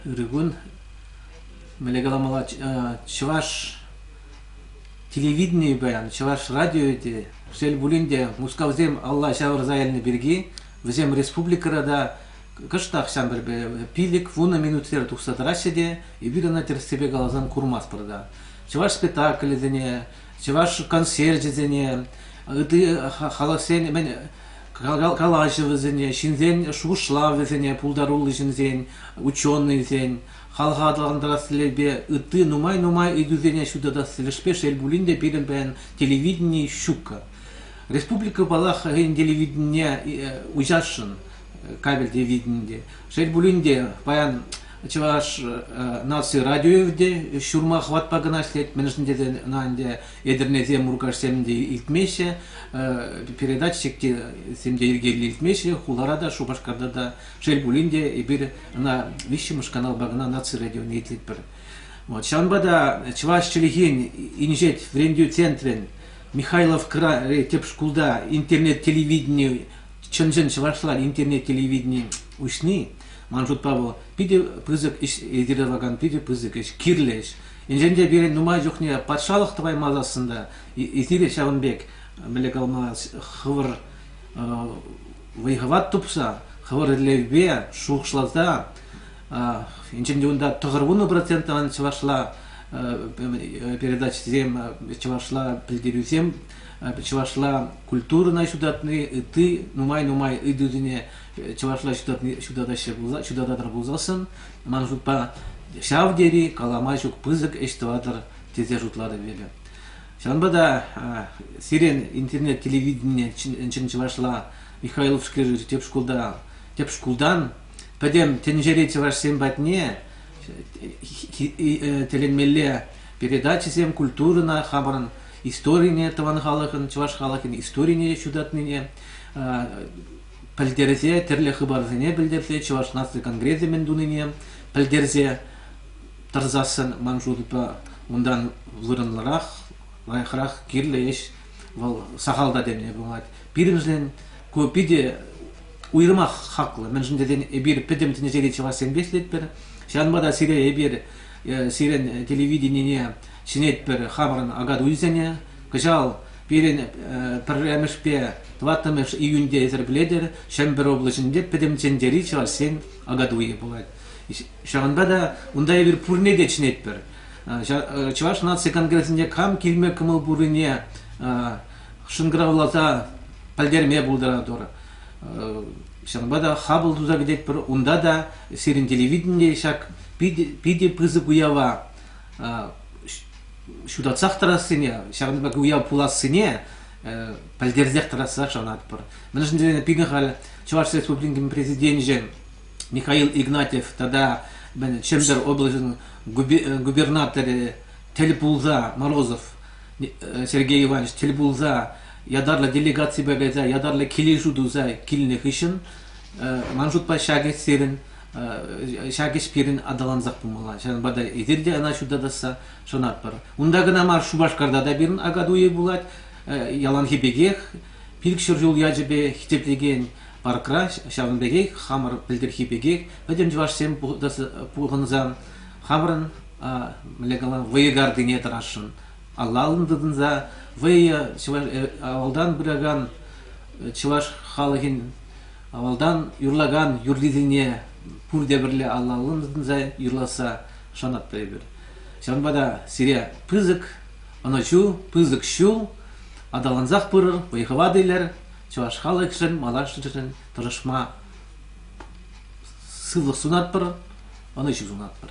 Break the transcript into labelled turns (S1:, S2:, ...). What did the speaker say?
S1: Ырыкун мӗнле каламалла чӑваш телевиденийӗ паян чӑваш радио те шел пулин те мускавсем алла ҫавӑрса илнӗ пирки вӗсем республикӑра та кӑштах ҫамрӑкӗ пилӗк вунӑ минутсерен тухса тӑраҫҫӗ те эпир ӑна тӗрӗссипе каласан курмастпӑр та чӑваш спектаклӗсене чӑваш концерчӗсене, ытти халӑхсен мӗн калаҫӑвӗсене, ҫынсен шухӑшлавӗсене пултаруллӑ ҫынсен, ученӑйсен, халӑха аталантарас тӗллевпе ытти нумай-нумай ыйтусене ҫутатас тӗлӗшпе шел пулин те пирӗн паян телевидени ҫукка. Республика паллах хӑйӗн телевиденине уҫасшӑн кабель телевиденийӗ. Шел пулин те паян Чӑваш наци радио те ҫурма хӑватпа кӑна ӗҫлет, мӗншӗн тесен ӑна ӗнтӗ Етӗрнесем, Муркашсем те илтмеҫҫӗ, передачсем те йӗркеллӗ илтмеҫҫӗ, хулара та, Шупашкарта та, шел пулин те, эпир ӑна виҫҫӗмӗш каналпа кӑна наци радионе итлетпӗр. Вот. Ҫавӑнпа та Чӑваш чӗлхин инҫет вӗрентӳ центрӗн Михайловкӑри тӗп шкулта интернет телевидени чӑн-чӑн чӑвашла интернет телевидени уҫни Ман шутпа вӑл питӗ пысӑк ӗҫ йӗркелевакан питӗ пысӑк ӗҫ, кирлӗ ӗҫ. Енчен те пирӗн нумай чухне патшалӑх тӑваймасассӑн та эсир ҫавӑн пек мӗнле калма хӑвӑр вӑй-хӑват тупса, хӑвӑр ӗллевпе шухӑшласа, енчен те унта тӑхӑр вунӑ процентӑн чӑвашла передачӑсем, чӑвашла пӗлтерӳсем, чӑвашла культурӑна ҫутатни, ытти нумай-нумай ыйтусене чӑвашла ҫутатаҫҫӗ пулса ҫутататӑр пулсассӑн ман шутпа ҫав тери калама ҫук пысӑк ӗҫ тӑватӑр тесе шутлатӑп эпӗ. Ҫавӑнпа та сирӗн интернет телевиденине чӑн чӑвашла Михайловскри тӗп шкулта тӗп шкултан пӗтӗм тӗнчери чӑвашсем патне тӗлӗнмелле передачӑсем культурӑна хамӑрӑн историне тӑван халӑхӑн чӑваш халӑхӗн историне ҫутатнине пӗлтерсе, тӗрлӗ хыпарсене пӗлтерсе Чӑваш наци конгресӗ мӗн тунине пӗлтерсе тӑрсассӑн ман шутпа унтан вырӑнлӑрах, лайӑхрах, кирлӗ ӗҫ вӑл сахал та теме пулать. Пирӗншӗн ку питӗ уйрӑмах хаклӑ. Мӗншӗн тесен эпир пӗтӗм тӗнчери чӑвашсемпе ӗҫлетпӗр. Ҫавӑнпа та сире эпир сирӗн телевиденине чӗнетпӗр хамӑрӑн акатуйсене. Кӑҫал Пирӗн пӗрремӗшпе тӑваттӑмӗш июньте ӗсӗркелетӗр Чӗмпӗр облаҫӗнче Пӗтӗм чӗнчери чӑвашсен агатуйӗ пулать. Ҫавӑнпа та унта эпир пурне те чӗнетпӗр. Чӑваш наци конгресӗнче кам килме кӑмӑл пуррине шӑнкӑравласа пӗлтерме пултаратӑр. Ҫавӑнпа та хапӑл туса кӗтетпӗр. Унта та сирӗн телевидение ҫак питӗ, питӗ пысӑк уява ҫутатсах тӑрассине, ҫакӑн пек уяв пулассине пӗлтерсех тӑрассах шанатпӑр. Мӗншӗн тесен пирӗн халь Чӑваш Республикин Президенчӗ Михаил Игнатьев тата Чӗмпӗр облаҫӗн губернаторӗ тӗл пулса, Морозов Сергей Иванович тӗл пулса ятарлӑ делегаципе кайса, ятарлӑ килӗшӳ туса килнӗ хыҫҫӑн, ман шутпа ҫакӑ сирӗн ҫак ӗҫ пирӗн аталансах пымалла. Ҫавӑнпа та эсир те ӑна ҫутатасса шанатпӑр. Унта кӑна мар, Шупашкарта та пирӗн акатуй пулать. Яланхи пекех пилӗк ҫӗр ҫул ячӗпе хитретекен паркра ҫавӑн пекех хамӑр пӗлтӗрхи пекех пӗтӗм чӑвашсем пухӑнсан хамӑрӑн мӗнле калам вӑйӑ картине тӑрасшӑн. Алла-аллӑн тытӑнса вӑйӑ чӑваш авалтан пыракан чӑваш халӑхӗн Авалтан юрлакан юррисене пурте пӗрле алла-аллӑн тытӑнса юрласса шанатпӑр эпир. Ҫавӑнпа та сире пысӑк ӑнӑҫу, пысӑк ҫул, аталансах пырӑр, вӑй-хӑва тилӗр, чӑваш халӑхӗшӗн, малашнешӗн тӑрӑшма сывлӑх сунатпӑр, ӑнӑҫу сунатпӑр.